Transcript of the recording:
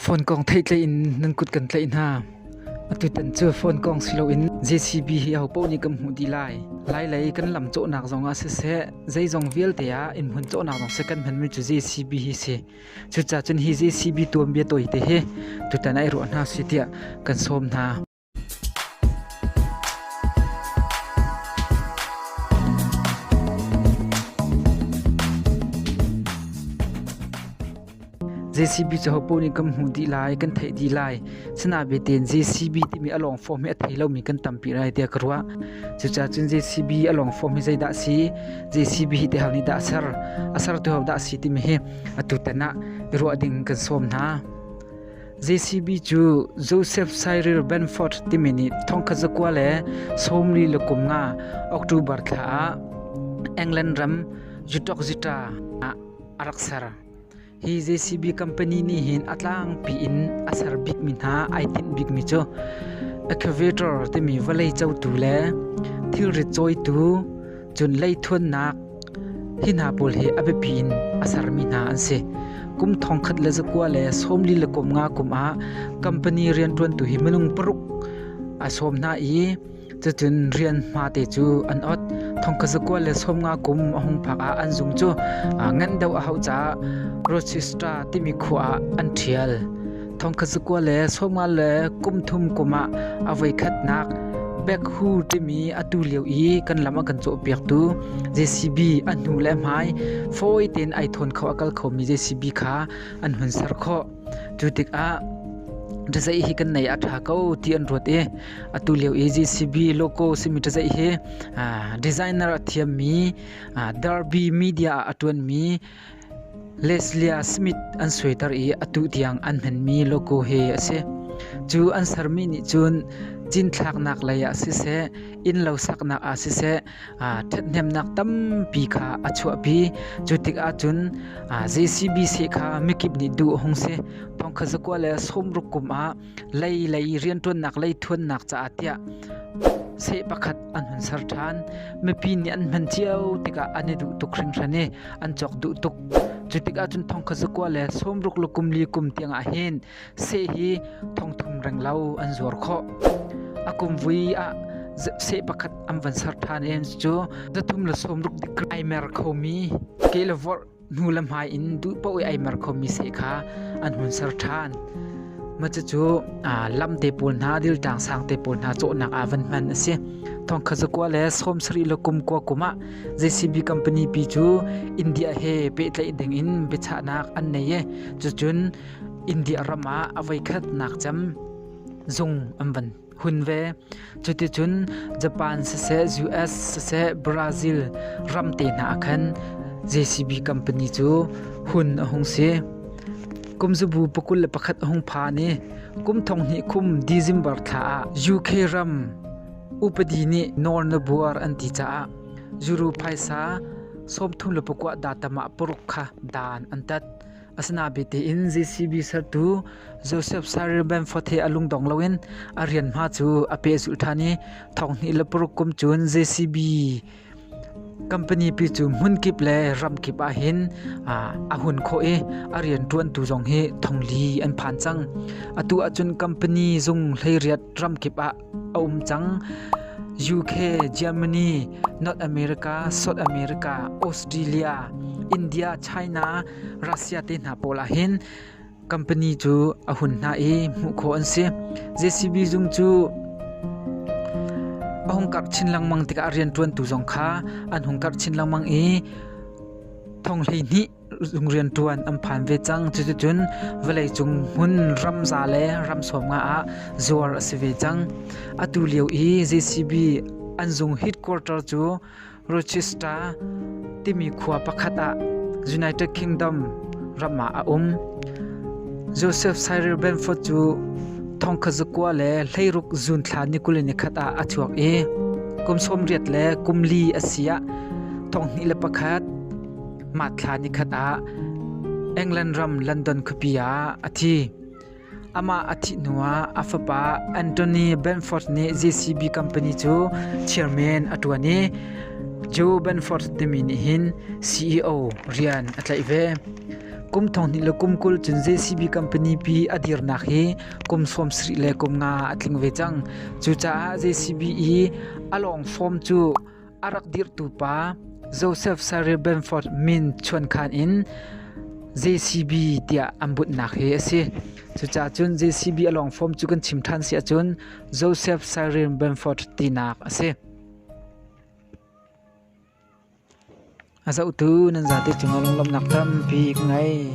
Phone kong theitleih in nan kut kan tlaih hna. Atutan cu phone kong si loin JCB hi ahopoh nih kan hmuh dih lai. Lailei kan lam cawhnak zongah siseh, zeizong vialte ah in hmun cawhnak zong seh kan hmanmi cu JCB hi si. Cucacun hi JCB tuanbia tawi te hi tutan ai ruah hna si tiah kan sawm hna. JCB cahopaoh nih kan hmuh dih lai, kan theih dih lai. Sina ve tein JCB timi a lawng form hi a thei lomi kan tampi lai tiah ka ruah. Cucah cun JCB a lawng form hi zeidah si, JCB hi tehal nih dah a ser, a ser tu hau dah si timi hi atu ten ah i ruah ding kan sawm hna. JCB cu Joseph Cyril Benford timi nih thongkhat zakua le sawmli le kum nga October thla ah England ram Zutokzita ah a rak ser. Hi JCB company nih hin a tlangpi in a ser bikmi hna ai tinh bikmi cu excavator timi vawlei cotu le thilrit cawitu Cun leithuannak hi hna pawl hi a biapi in a sermi hna an si. Kum thongkhat le zakua le sawmli le kum nga kum ah company rianṭuantu hi minung paruk a sawm hna i cutin rian hmate cu an ot. Thongkhat zakua le sawm nga kum a hung phak ah an zung cu ngan deuh a hau caah Rochester timi khua ah an ṭhial. Thongkhasikua le sawmal le kumthum kum ah a voikhatnak Baekhu timi atu lio i kan lam a kan cawhpiaktu JCB a hnu le hmai fawi tein ai thawn kho a kal khomi JCB kha an hun ser khawh. Cu tikah ṭazei hi kan nei a ṭha ko ti an ruat i atu lio i JCB logo simi ṭazei hi designer a thiammi Derby Media ah a ṭuanmi Leslie a Smith an suaiter i a tuh tiang an hmanmi logo hi a si. Cu an sermi nih cun cinthlaknak lei ah siseh, innlo saknak ah siseh ṭhathnemnak tampi kha a chuahpi. Cu tikah cun JCBC kha mikip nih duh a hung si. Thong kha zakua le sawmruk kum ah lei lei rianṭuannak lei ṭhuannak caah tiah seh pakhat an hun ser ṭhan. Mipi nih an hman cio tikah an i duh tuk hringhran i an cawk duh tuk. Cu tikah cun thongkha zakua le sawmruk le kum li kum tiangah hin seh hi thongthum renglo an zuar khawh. A kum vui ah seh pakhat an van ser ṭhan i cu zathum le sawmruk dik ai mer khomi ke le vorh hnu le hmai in duh paoh i eimar khomi se kha an hun ser ṭhan. Macucu lam te pawl hna, diltang sang te pawl hna cawhnak ah van hman a si. Thongkha zakua le sawm sarih le kum kua kum ah JCB company pi cu India he pehtlaih ding in biachahnak an nei i cucun India ram ah a voi khat nak cem zung an van hun ve. Cuticun Japan siseh, US siseh, Brazil ram te hna ah khan JCB company cu hun a hung si. Kumzubu pakul le pakhat a hung pha ni kum thong hnih khum December thla ah UK ram upadi ni Nor Nabuar an ti caah juru phaisa sawmthum le pakua datamah paruk kha dan an tat. Asinain bitein JCB sertu Joseph Cyril Bamford he a lungdong loin a rian hma cu a pehzulh ṭhan i thonghnih le paruk kum cun JCB company pi cu hmun kip le ram kip ah hin a hun khawh i a rianṭuantu zong hi thongli an phan cang. Atu ahcun company zung hleiriat ram kip ah a um cang. UK, Germany, North America, South America, Australia, India, China, Russia te hna pawl ah hin company cu a hun hna i hmuh khawh an si. JCB zung cu a hung karh chin lengmang tikah a rian ṭuantu zong kha an hung karh chin lengmang i thong hlei hnih Rianṭuan an phan ve cang. Cuticun vawleicung hmun ram za le ram sawm nga ah zuar a si ve cang. Atu lio i JCB an zung headquarter cu Rochester timi khua pakhat ah United Kingdom ram ah a um. Joseph Cyril Bamford cu thongkhat zakua le hleiruk zuunthla nikul in nikhat ah a chuak i kum sawm riat le kum li a si ah thonghnih le pakhat mah thla nikhat ah England ram London khuapi ah a thi. Amah a thih hnuah a fapa Anthony Benford nih JCB company cu chairman a ṭuan i Joe Benford timi nih hin CEO rian a tlaih ve. Kum thong hnih le kum kul cun JCB company pi a dirnak hi kum sawm sarih le kum nga a tling ve cang. Cucaah JCB i a lawng form cu A rak dirhtu pa Josef Sarribenford min chuankhan in JCB tiah an bunhnak hi a si. Cucaah cun JCB a lawng form cu kan chim ṭhan si ahcun Josef Sarribenford tinak a si. A zohtu nan zate cungah lunglawmhnak tampi ka ngei.